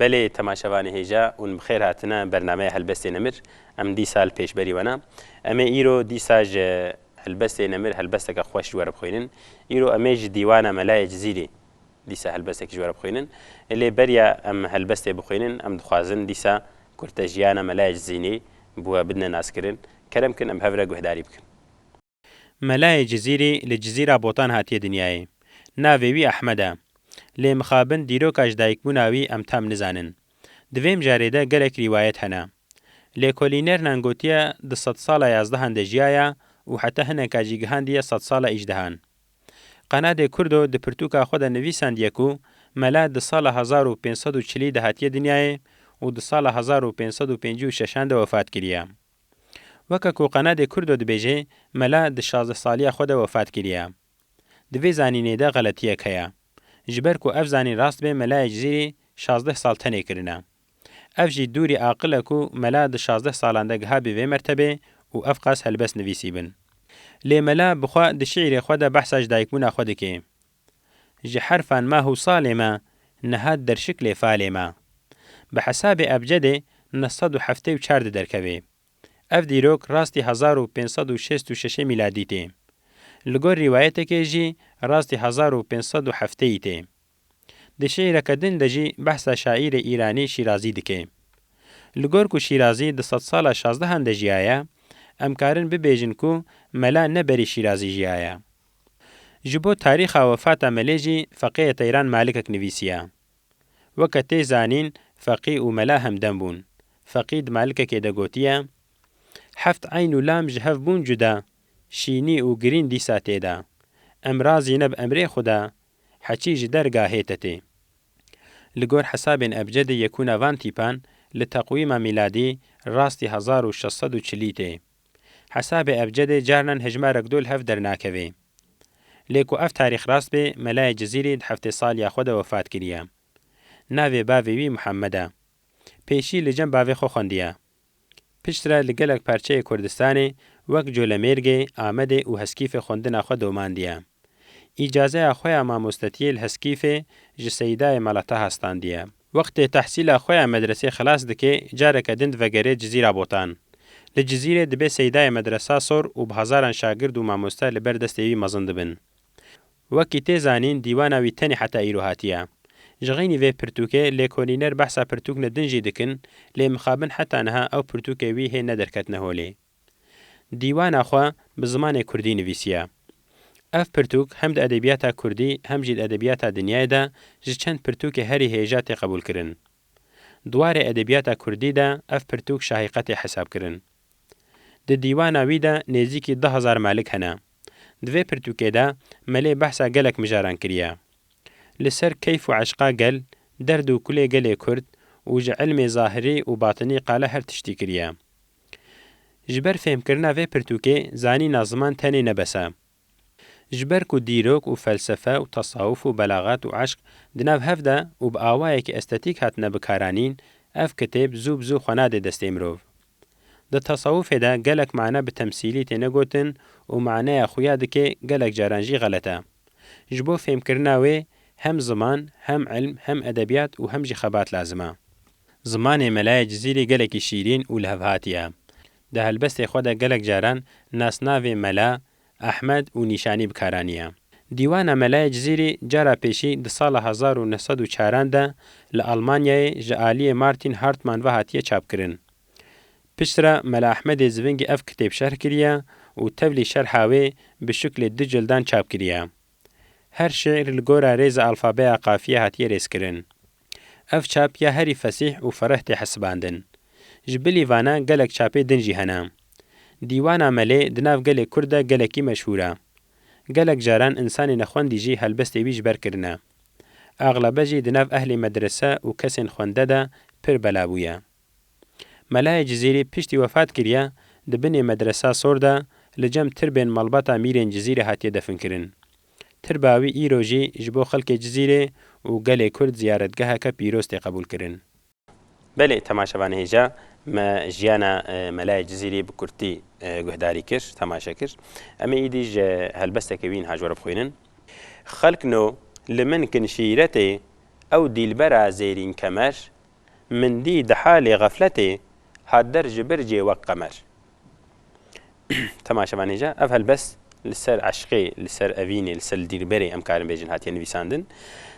Belê temaşevanê hêja û bixêr hatine bernameya Helbestê Nemir. Em dîsal pêşberî wena. Em ê îro dîsa ji Helbestê Nemir helbesteke xweş ji we re bixwînin. Îro em ê ji dîwana Melayê Cizîrê dîsa helbestekî ji we re bixwînin. Lê beriya em helbestê bixwînin, em dixwazin dîsa kurtejiyana Mela Ecizînî bi we bidine naskirin. Kerem bikin em bi hev re guhdarî bikin. Mela Ecizîrî li Cizîra Botan hatiye dinyayê. Navê wî Ehmed e. Lê mixabin dîroka ji dayikbûna wî em tam nizanin. Di vê mijarê de gelek rîwayet hene. Lêkolînernan gotiye di sedsala yazdehan de jiyaye û heta hineka jî gihandiye sedsala îjdehan. Qenadê Kurdo di pirtûka xwe de nivîsandiye ku mele di sala hezar û pênc sed û çilî de hatiye dinyayê û di sala hezar û pênc sed û pêncî û şeşan de wefat kiriye. Weke ku Qenadê Kurdo dibêje mele di şazdeh saliya xwe de wefat kiriye. Di vê zanînê de xeletiyek heye. Ji ber ku ev zanîn rast be mele Ecizîrî şazdeh sal tenê kirine. Ev jî dûrî aqil e ku mela di şazdeh salan de gihabî vê mertebê û ev qas helbest nivîsîbin. Lê mela bi xwe di şîîrê xwe de behsa ji dayikbûna xwe dike. Ji herfan ma hûsalê me, niha derşik lê falê me. Bi hesabê ebcedê neh sed û heftê û çar di derkevê. Ev dîrok rastî hezar û pênc sed û şêst û şeşê mîladî tê. Li gor rîwayetekê jî rastî hezar û pênc sed û hefteyî tê. Di şîîreke din de jî behsa şaîrê Îranî Şîrazî dike. Li gor ku Şîrazî di sedsala şazdehan de jiyaye, em karin bibêjin ku mela ne berî Şîrazî jiyaye. Ji bo tarîxa wefata melê jî feqêyê Teyran Malikek nivîsiye. Weke tê zanîn feqî û mela hemdem bûn. Feqî di malikekê de gotiye, Heft eyn û lam ji hev bûn cuda, şînî û girîn dîsa tê de. Em razî ne bi emrê xwe de, Heçî ji dergahê te tê. Li gor hesabên ebcedê yekûna van tîpan li teqwîma mîladî rastî hezar û şeş sed û çilî tê. Hesabê ebcedê carinan hejmarek do li hev dernakevê. Lê ku ev tarîx rast bê Melayê Cizîrî di heftê saliya xwe de wefat kiriye. Navê bavê wî Muhammed e. Pêşî li cem bavê xwe xwendiye. Piştre li gelek parçeyê Kurdistanê wek Colemêrgê, Amedê û Heskîfê xwendina xwe domandiye. Îcazeya xwe ya mamostetiyê li Heskîfê ji Seyîdayê Malataha standiye. Wextê tehsîla xwe ya medresê xilas dike careke din divegerê Cizîra Botan. Li Cizîrê dibe Seyîdayê Medresa sor û bi hezaran şagird û mamoste li ber destê wî mezin dibin. Wekî tê zanîn dîwana wî tenê heta îro hatiye. Ji xeynî vê pirtûkê lêkolîner behsa pirtûkne din jî dikin lê mixabin heta niha ew pirtûkê wî hê nederketine holê. Dîwana xwe bi zimanê kurdî nivîsiye. Ev pirtûk hem di edebiyata kurdî hem jî di edebiyata dinyayê de ji çend pirtûkê herî hêja tê qebûlkirin. Di warê edebiyata kurdî de ev pirtûk şahîqetê hesab kirin. Di dîwana wî de nêzîkî du hezar melik hene. Di vê pirtûkê de Melê behsa gelek mijaran kiriye. Li ser keyf û eşqa gel, derd û kulê gelê kurd û ji ilmê zahirî û batinî qala her tiştî kiriye. Ji ber fêhmkirina vê pirtûkê zanîna ziman tenê ne bes e. Ji ber ku dîrok û felsefe û tesawuf û belaxet û eşq di nav hev de û bi awayekî estetîk hatine bikaranîn, ev kitêb zû bi zû xwe nadê destê mirov. Di tesawufê de gelek mane bi temsîlî têne gotin û maneya xuya dikê gelek caran jî xelet e. Ji bo fêmkirina wê hem ziman, hem ilm, hem edebiyat û hem jî xebat lazim e. Zimanê Melaye Cizîrî gelekî şîrîn û lihevhatî ye. Di helbestê xwe de gelek caran nasnavê Mela, Ahmed û Nîşanî bi kar aniye. Dîwana Melayê Cizîrî cara pêşî di sala hezar û neh sed û çaran de li Almanyayê ji aliyê Martin Hartmann ve hatiye çapkirin. Piştre Mela Ahmedê Zivingî ev kitêb şerh kiriye û tevlî şerha wê bi şiklê du cildan çap kiriye. Her şîîr li gora rêza alfabeya qafiyê hatiye rêzkirin. Ev çap ya herî fesîh û fereh tê hesibandin. Ji bilî vana gelek çapê din jî hene. Dîwana Melê di nav gelê Kurd de gelekî meşhûr e. Gelek caran însanê nexwendî jî helbestê wî ji ber kirine. Axlebe jî di nav ehlê medrese û kesên xwende de pir bela bûye. Melayê Cizîrî piştî wefat kiriye, di binê Medresa Sor de li cem tirbên malbata mîrên Cizîrê hatiye definkirin. Tirba wî îro jî ji bo xelkê Cizîrê û gelê Kurd ziyaretgeheke pîroz tê qebûlkirin. Belê temaşevanê hêja me jiyana Melayê Cizîrî bi kurtî guhdarî kir, temaşe kir. Em ê îdî ji helbestekê wî niha ji we re bixwînin. Xelk no li min kin şîretê ew dîlbera Zêrîn Kemer Min dî di halê xefletê hat der ji bir cê wek qemer. Temaşe van hêja, ev helbest li ser eşqê, li ser evînê, li ser li dîrberê em karin bêjin hatiye nivîsandin.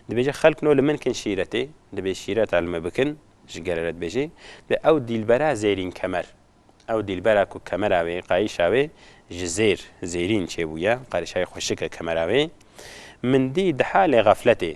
Dibêje xelk no li min kin şîretê, dibê şîreta li me bikin, ji gele re dibêje, dê ew dîlbera zêrîn kemer. Ew dîlbera ku kemera wê, qayîşa wê ji zêr, zêrîn çêbûye, qarîşayê xweşik e kemera wê. Min dî di halê xefletê.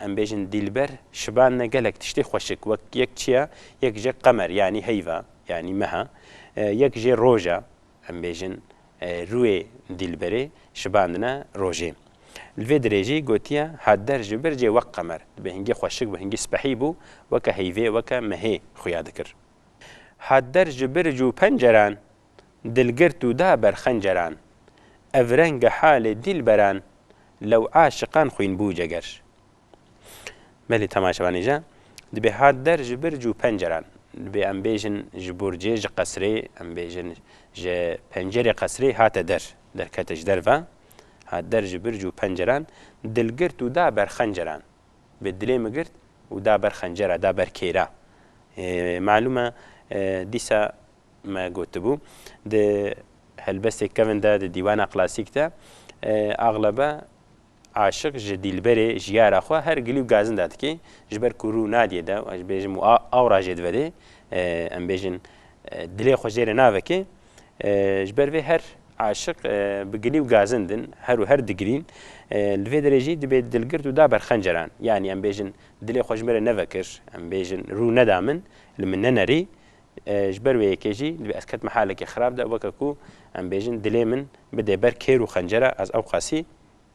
Em bêjin Dîlber şiban ne gelek tiştê xweşik wek yek çiya, yek jê qemer yanî heyva yanî meha, yek jê roja. Em bêjin rûyê Dîlberê şibandine rojê. Li vê dirê jî gotiye Hader ji bir cê wek qemer dibê hingî xweşik bû, hingî spehî bû, weke heyvê, weke mehê xuya dikir. Hader ji bir cû penceran Dilgirt û da ber xenceran Ev renga halê dîlberan Lew aşiqan xwîn bû ceger Belê temaşevanê je dibê hat der ji birc û penceran Dibê em bêjin ji burcê ji qesrê Em bêjin ji pencerê qesrê hate der Derkete ji derve hat der ji birc û penceran Dilgirt û da ber xenceran Bi dilê min girt û da ber xencera da ber kêra Malûm e dîsa Me gotibû, di helbestê kevn de, di dîwana klasîk de axlebe aşik ji dîlberê, jiyara xwe her gilî û gazinda dike, ji ber ku rû nadîye dew, ez bêjim û awra jê divedê, em bêjin dilê xwe jê re naveke, ji ber vê her aşik bi gilî û gazind in, her û her digilîn, li vê derê jî dibe dilgirt û da ber xenceran, yanî em bêjin dilê xwe ji min re nevekir, em bêjin rû neda min, li min nenerî. Ji ber wê yekê jî divê ez ketme halekê xerab de weke ku em bêjin dilê min bidê ber kêr û xencera ez ewqasî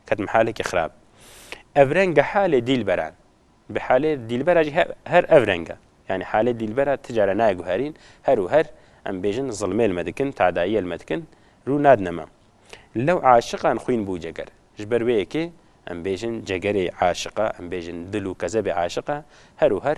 ketime halekê xerab. Ev reng bi halê dîlberan bi halê dîlbera jî her ev reng e. Yanî halê dîlbera ti care nayê guherîn her û her em bêjin zilmê li me dikin, tadayiyê li me dikin rû nadine me. Lew aşiqan xwîn bû ceger. Ji ber wê yekê em bêjin cegerê aşiq e, em bêjin dil û kezebê aşiq e her û her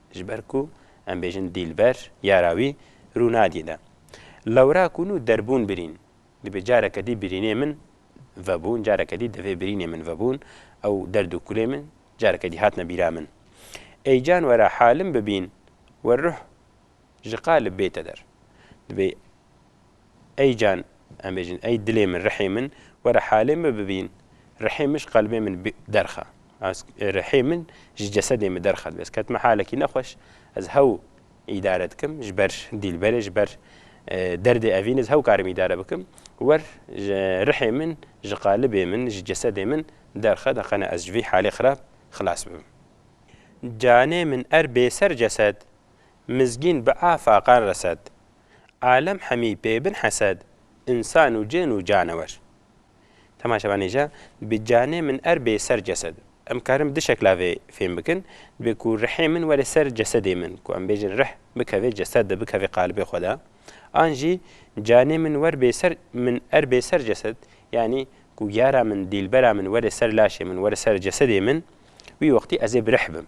Ji ber ku em bêjin dîlber, yara wî, rû nadî de. Lewra ku nû derbûn birîn, dibê careke dî birînê min vebûn, careke dî divê birînê min vebûn, ew derd û kulê min careke dî hatine bîra min. Ey can were halim bibîn, we ruh ji qalib bête der. Dibê. Ey can, em bêjin, ey dilê min, rihê min, were halê min bibîn. Rihê min ji qelbê min derxe. Rihê min ji cesedê min derxe. Divê ez ketime halekî nexweş, ez hew îdare dikim ji ber dîlberê, ji ber derdê evînê ez hew karim îdare bikim. Wer rihê min ji qalibê min, ji cesedê min derxe de qene ez ji vî halê xirab xilas bibim. Canê min er bêser cesed, mizgîn bi a faqan resed. Alem hemî pê bin hesed, însan û cin û canewer. Temaşe benêje, Bi canê min er bê ser cesed. Em karin du şekla vê fêm bikin, dibê ku rihê min were ser cesedê min, ku em bêjin rih bikeve cesed de, bikeve qalibê xwe de, an jî canê min wer bê ser min er bê ser cesed, yanî ku yara min, dîlbera min were ser laşê min, were ser cesedê min, wî wextî ez ê bi rih bim.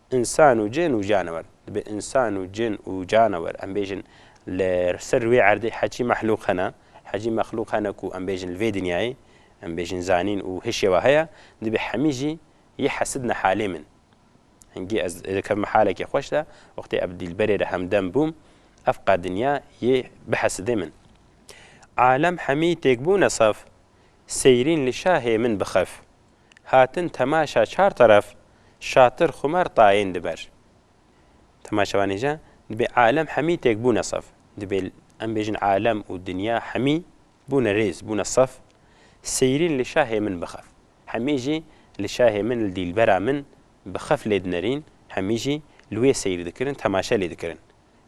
Însan û cin û canewer, dibê însan û cin û canewer em bêjin li ser wê erdê heçî mehlûq hene, heçî mexlûq hene ku em bêjin li vê dinyayê, em bêjin zanîn û hê şêwa heye, dibê hemî jî yê hesidne halê min. Hingî ez ê dikevime halekê xweş de, wextê ev dîlberê re hemdem bûm, ev qe dinya yê bihesidê min. Alem hemî têk bûne saf, seyrîn li şahê min bixef. hatin temaşa çar teref şatir xumer tayên di ber. Temaşevanê jî dibê alem hemî têk bûne sef. Dibê em bêjin alem û dinya hemî bûne rêz, bûne sef. Seyrîn li şahê min bixef. Hemî jî li şahê min, li dîlbera min bixef lê dinerîn, hemî jî li wê seyr dikirin, temaşe lê dikirin.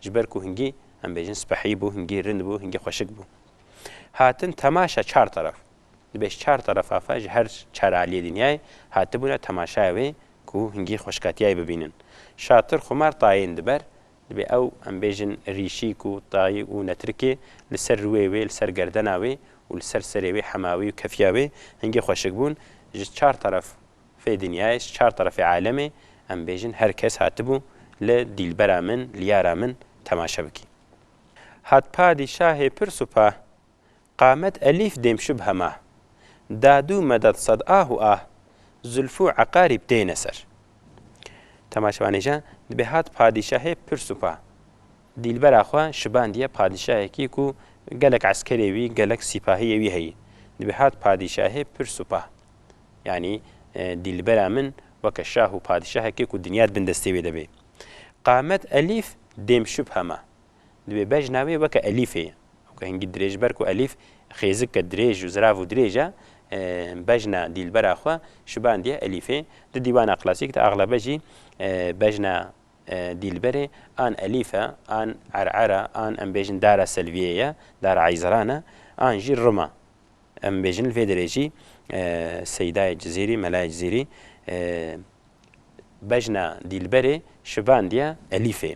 Ji ber ku hingî em bêjin spehî bû, hingî rind bû, hingî xweşik bû. Hatin temaşa çar teref. Di beş çar terefa xwe ji her çar aliyê dinyayê hatibûne temaşaya wê ku hingî xweşkatiyayê bibînin. Şatir xumar tayên diber, dibê ew em bêjin rîşîk û tayî û netrikê li ser rûyê wê, li ser gerdena wê û li ser serê wê hema wê û kefiya wê hingî xweşik bûn. Ji çar teref fê dinyayê, ji çar terefê alemê em bêjin her kes hatibû li dîlbera min, li yara min temaşe bikî. Hat padîşahê pir supa Qamet Elîf dêm şib hema. Dadû Medad sad ah û ah, Zulfû Eqarîb têne ser. Temaşevanê jî dibê hat padîşahê pir supa. Dîlbera xwe şibandiye padîşahekî ku gelek eskerê wî, gelek sîpahiyê wî heyî. Dibê hat padîşahê pir supa. Yanî dîlbera min weke şah û padîşahekê ku dinya di bin destê wê de bê. Qamet Elîf dêm şib hema. Divê bejna wê weke elîfê ye. Weke hingî dirêj ber ku elîf xêzike dirêj û zirav û dirêj e, bejna dîlbera xwe şibandiye elîfê. Di dîwana klasîk de axlebe jî bejna dîlberê an elîf e, an er'er e, an em bêjin dara selviyê ye, dara eyziran e, an jî rim e. Em bêjin li vê derê jî Seydayê Cizîrî, Melayê Cizîrî bejna dîlberê şibandiye elîfê.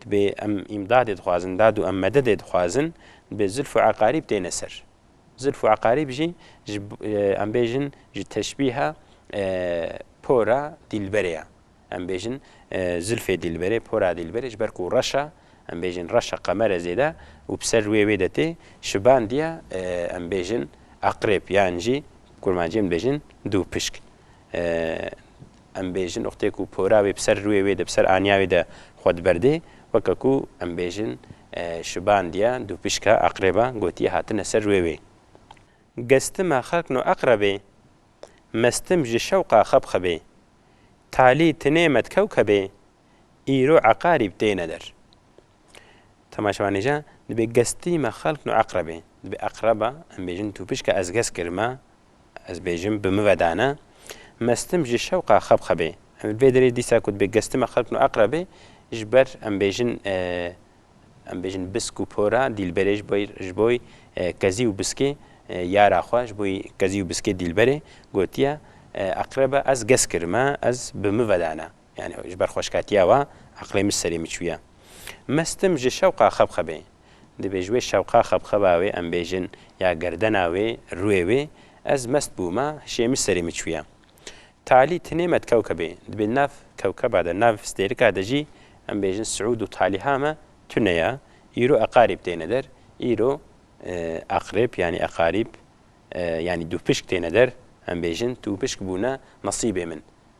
Dibê em îmdadê dixwazin, dad û em mededê dixwazin, dibê Zilf û Eqarîb têne ser. Zilf û Eqarîb jî ji em bêjin ji teşbîha pora dîlberê ye. Em bêjin zilfê dîlberê, pora dîlberê ji ber ku reş e, em bêjin reş e, qemer e zêde û bi ser wê wê de tê, şibandiye em bêjin Eqrêb yan jî kurmanciyên dibêjin dûpişk. Em bêjin wextê ku pora wê bi ser rûyê wê de, bi ser aniya wê de xwe diberdê, weke ku em bêjin şibandiye, dûpişka, aqrêba, gotiye hatine ser rûyê wê. Gestima xelk no aqrebê, mestim ji şewqa xebxebê, talî tinê met kewkebê. îro Eqarîb têne der. Temaşevanêja dibê gestîma xelk no eqrebê. Dibê eqreba, em bêjin tu pişka ez gest kirime, ez bêjim bi min ve dane, mestim ji şewqa xeb xebê. Em li vê derê dîsa ku dibê gestîma xelk no eqrebê, ji ber em bêjin em bêjin bisk û pora dîlberê ji bo ji bo kezî û biskê yara xwe ji bo kezî û biskê dîlberê gotiye eqreba ez gest kirime, ez bi min ve dane. Yanî ji ber xweşkatiya we eqlê min ji serê min çûye. Mestim ji şewqa xebxebê. Divê ji wê şewqa xebxeba wê em bêjin ya gerdena wê, rûyê wê, ez mest bûme, hişê min ji serê min çûye. Talî tenê me di kewkebê. Divê di nav kewkeba de, di nav stêrika de jî em bêjin Siûd û Talîha me tune ye. Îro Eqarîb têne der. Îro Eqrib yanî Eqarîb yanî dûpişk têne der. Em bêjin dûpişk bûne nesîbê min.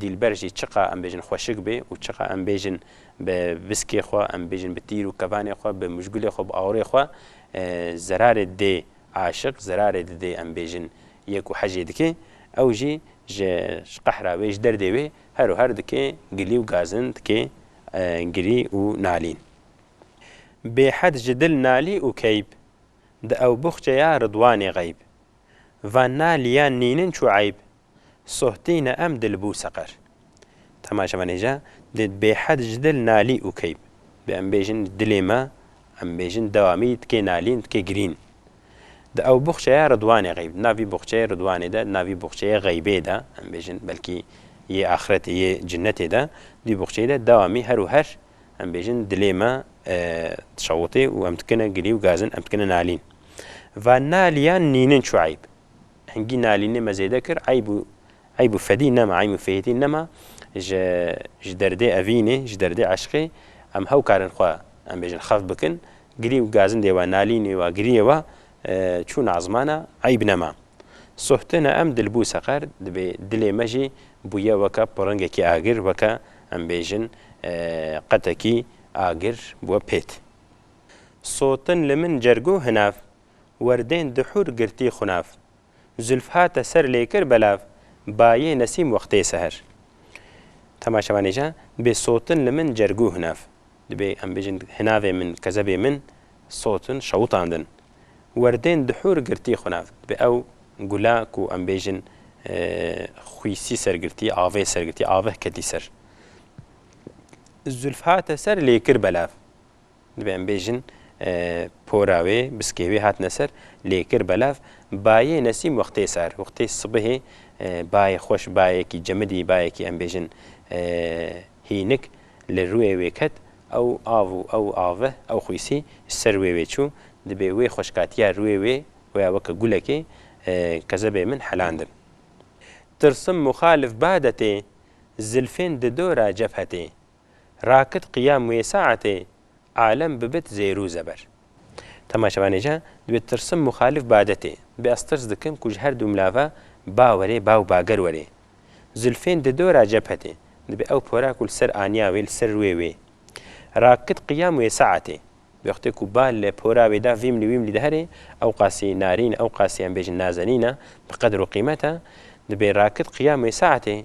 Dîlber jî çiqa em bêjin xweşik bê û çiqa em bêjin bi biskê xwe, em bêjin bi tîr û kevanê xwe, bi mijgulê xwe, bi awirê xwe zerarê dê aşiq, zerarê didê em bêjin yê ku hecê dike, ew jî ji qehra wê, ji derdê wê her û her dike gilî û gazin, dike girî û nalîn. Bêhed ji dil nalî û keyb, di ew buxçeya ridwanê xeyb. Van nalîyan nînin çû eyb, sohtîne em dil bû seqer. Dema ji venê je dê bêhed ji dil nalî û keyb bê em bêjin ji dilê me em bêjin dewamî dikê nalîn dikê girîn. Di ew buxçeya Ridwanê xeyb di nav vî buxçeyê Ridwanê de di nav vî buxçeyê xeybê de em bêjin belkî yê axretê yê cinetê de di vî buxçeyê de dewamî her û her em bêjin dilê me dişewitê û em dikine gilî û gazin em dikine nalîn. Va nalîyan nînin çû eyb. Hingî nalînê me zêde kir, eyb û eyb û fedî nema, eym û fêhîtî nema ji ji derdê evînê, ji derdê eşqê em hew karin xwe em bêjin xev bikin, girî û gazindê wa, nalînê wa, giriyê wa çûn a zimana eyb nema. Sohtina em dilbû seqer, dibê dilê me jî bûye weke piringekî agir, weke em bêjin qetekî agir bûye pêt. Sotin li min cerg û hinav werdên di hûr girtî xunav. Zûlf hate ser lê kir belav, bayê nesîm wextê seher. Temaşevanê ja, bê sotin li min cergû hinav. Dibê em bêjin hinavê min, kezebê min, sotin şewitandin. Werdên di hûr girtî xunav. Dibê ew gula ku em bêjin xwîsî ser girtî, avê ser girtî, aveh ketî ser. Zûlf hate ser lê kir belav. Divê em bêjin pora wê, biskê wê hatine ser, lê kir belav. Bayê Nesîm wextê sar, wextê sibihê bayê xweş, bayekî cemidî, bayekî em bêjin hînik li rûyê wê ket. Ew av û ew aveh, ew xwîsî ji ser rûyê wê çû. Divê wê xweşkatiya rûyê wê waya weke gulekê kezebê min helandin. Tirsim muxalif badetê, zilfên di dora cefhetê. Rakit qiyam wê saetê alem bibit zêrû zeber. Temaşevanê jî divê tirsim muxalîf badetê. Bê ez tirs dikim ku ji her dû milav ve ba were ba û bager were. Zilfên di dora cephetê. Divê ew pora ku li ser aniya wê li ser rûyê wê. Rakit qiyam wê saetê. Wextê ku ba li pora wê de vîmlî wîmlî dihere, ewqasî narîn, ewqasî em bêjin nazenîn e, bi qedr û qîmet e. Divê rakit qiyam wê saetê.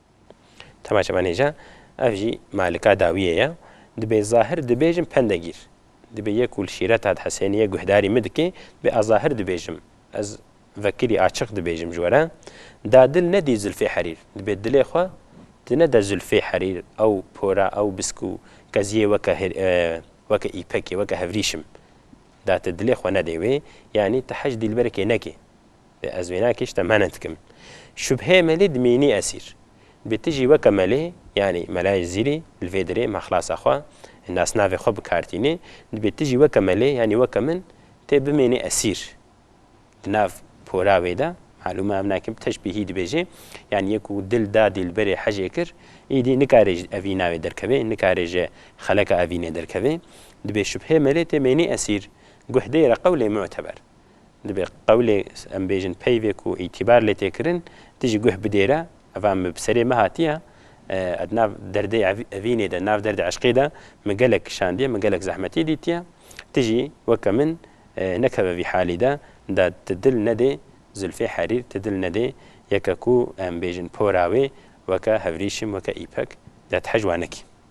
Temaşe ben hêja, ev jî malika dawiyê ye. Dibê zahir dibêjim pende gîr. Dibê yê ku li şîret a di Hesêniyê guhdarî min dikê, dibê a zahir dibêjim. Ez vekirî açiq dibêjim ji we re. Da dil ne dî zilfê herîr. Dibê dilê xwe di ne de zilfê herîr, ew pora, ew bisk û keziyê weke weke îpekê, weke hevrîşim. Da ti dilê xwe nedê wê, yanî ti hej dîlberekê nekê. Ez wênakê ji te mane dikim. Şubheyê me lê dimînî esîr. Bi ti jî weke me lê, yanî Melayê Zîrî, li vê dirê me xilasa xwe, nasnavê xwe bi kar tînê, dibê ti jî weke me lê, yanî weke min, tê bimênî esîr. Di nav pora wê de, malûm e ev ne kim teşbîhî dibêjê, yanî yê ku dil da dîlberê hejê kir, îdî nikarê ji evî navê derkevê, nikarê ji xeleka evînê derkevê. Dibê şubheyê me lê tê mênî esîr. Guh deyre qewlê muteber. Dibê qewlê em bêjin peyvê ku îtîbar lê tê kirin tu jî guh bidêre. Eva min bi serê me hatiye. Ev di nav derdê evînê de, di nav derdê eşqê de min gelek kişandiye, min gelek zehmetî dîtiye. Tu jî weke min nekeve vî halî de. De tu dil nedê Zülfê Herîr, tu dil nedê yeke ku em bêjin pora wê weke Hevrîşim, weke Îpek, de tu hej wan nekî.